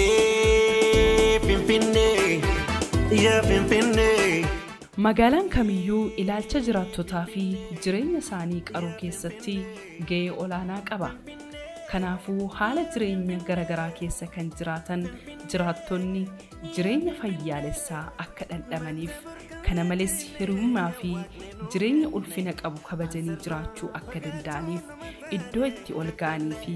Finfinnee, Finfinnee, yaa Finfinnee. Magaalaan kamiyyuu ilaalcha jiraattotaa fi jireenya isaanii qaruu keessatti ga'ee olaanaa qaba. Kanaafuu haala jireenya gara garaa keessa kan jiraatan jiraattonni jireenya fayyaalessaa akka dhandhamaniif, kana malees hiriyummaa fi jireenya ulfina qabu kabajanii jiraachuu akka danda'aniif iddoo itti ol ga'anii fi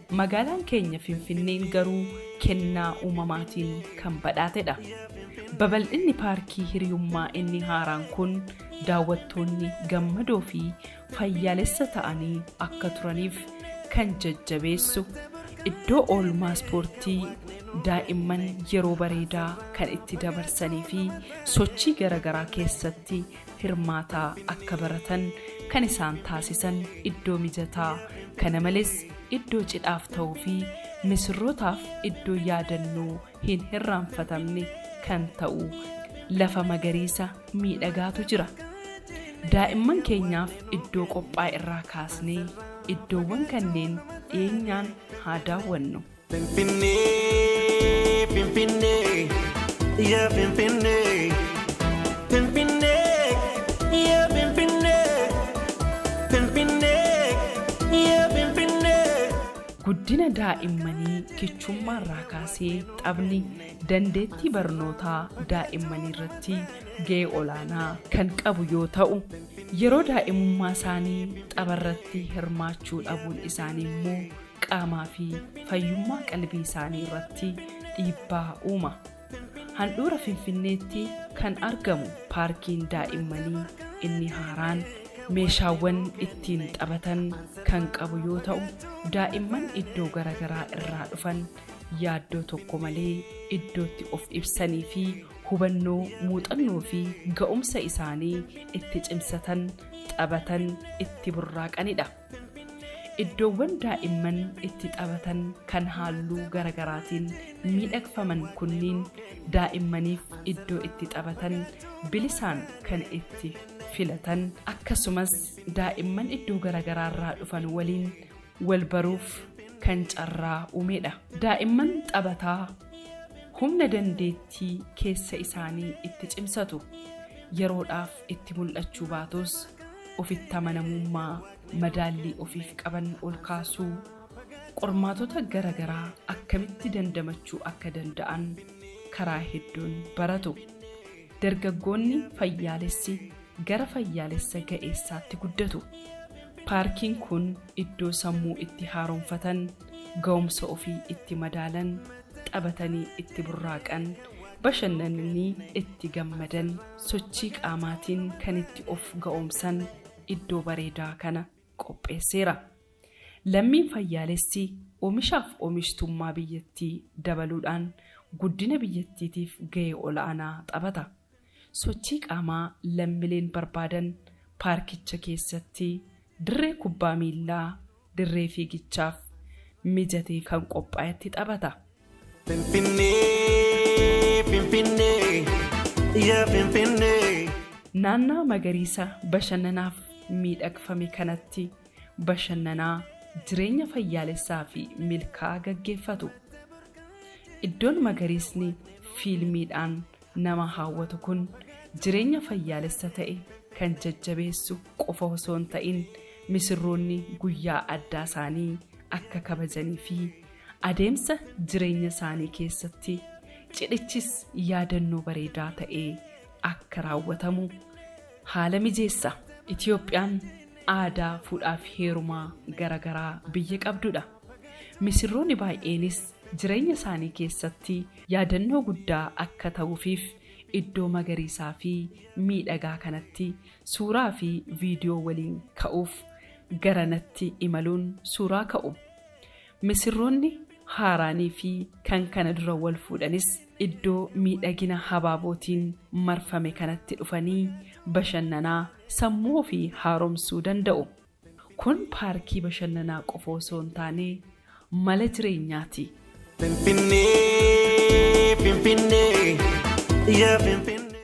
Magaalaan keenya Finfinneen garuu kennaa uumamaatiin kan badhaatedha. Babal'inni Paarkii Hiriyummaa inni haaraan kun daawwattoonni gammadoo fi fayyaalessa ta'anii akka turaniif kan jajjabeessu, iddoo oolmaa ispoortii daa'imman yeroo bareedaa kan itti dabarsanii fi sochii garagaraa keessatti hirmaataa akka baratan kan isaan taasisan iddoo mijataa kana malees iddoo cidhaaf ta'uu fi misirrootaaf iddoo yaadannoo hin hirraanfatamne kan ta'u lafa magariisa miidhagaatu jira. Daa'imman keenyaaf iddoo qophaa'e irraa kaasnee iddoowwan kanneen dhiyeenyaan haa daawwannu. Finfinnee, Finfinnee, yaa Finfinnee. Finfinnee, yaa Finfinnee. Finfinnee, yaa Finfinnee. Guddina daa'immanii kichummaarraa kaasee taphni dandeettii barnootaa daa'immaniirratti ga'ee olaanaa kan qabu yoo ta'u, yeroo daa'imummaasaanii tapharratti hirmaachuu dhabuun isaaniimmoo qaamaa fi fayyummaa qalbii isaanii irratti dhiibbaa uuma. Handhuura Finfinneetti kan argamu paarkiin daa'immanii inni haaraan meeshaawwan ittiin taphatan kan qabu yoo ta'u, daa'imman iddoo garaagaraa irraa dhufan yaaddoo tokko malee iddootti of ibsanii fi hubannoo, muuxannoo fi ga'umsa isaanii itti cimsatan, taphatan, itti burraaqanidha. Iddoowwan daa'imman itti taphatan kan halluu garagaraatiin miidhagfaman kunniin daa'immaniif iddoo itti taphatan bilisaan kan itti filatan, akkasumas daa'imman iddoo garagaraarraa dhufan waliin walbaruuf kan carraa uumedha. Daa'imman taphataa humna dandeettii keessa isaanii itti cimsatu yeroodhaaf itti mul'achuu baatus, ofitti amanamummaa madaallii ofiif qaban ol kaasuu, qormaatota gara garaa akkamitti dandamachuu akka danda'an karaa hedduun baratu. Dargaggoonni fayyaalessi gara fayyaalessa ga'eessaatti guddatu. Paarkiin kun iddoo sammuu itti haaromfatan, ga'umsa ofii itti madaalan, taphatanii itti burraaqan, bashannananii itti gammadan, sochii qaamaatiin kan itti of ga'oomsan iddoo bareedaa kana qopheesseera. Lammiin fayyaalessi omishaaf omishtummaa biyyattii dabaluudhaan guddina biyyattiitiif ga'ee ol'aanaa taphata. Sochii qaamaa lammileen barbaadan paarkicha keessatti dirree kubbaa miillaa dirree fiigichaaf mijatee kan qophaa'etti taphata. Finfinnee, Finfinnee, yaa Finfinnee. Naannaa magariisa bashannanaaf miidhagfame kanatti bashannanaa, jireenya fayyaalessaa fi milkaa'aa gaggeeffatu. Iddoon magariisni fiilmiidhaan nama hawwatu kun jireenya fayyaalessa ta'e kan jajjabeessu qofa osoo hin ta'in misirroonni guyyaa addaa isaanii akka kabajanii fi adeemsa jireenya isaanii keessatti cidhichis yaadannoo bareedaa ta'ee akka raawwatamu haala mijeessa. Itiyoophiyaan aadaa fuudhaaf heerumaa garagaraa biyya qabdudha. Misirrooni baay'eenis jireenya isaanii keessatti yaadannoo guddaa akka ta'uufiif iddoo magariisaa fi miidhagaa kanatti suuraa fi viidiyoo waliin ka'uuf garanatti imaluun suuraa ka'u. Misirroonni haaraanii fi kan kana dura wal fuudhanis iddoo miidhagina habaabootiin marfame kanatti dhufanii bashannanaa sammuu ofii haaromsuu danda'u. Kun paarkii bashannanaa qofa osoo hin taane mala jireenyaati. Finfinnee, Finfinnee, yaa Finfinnee.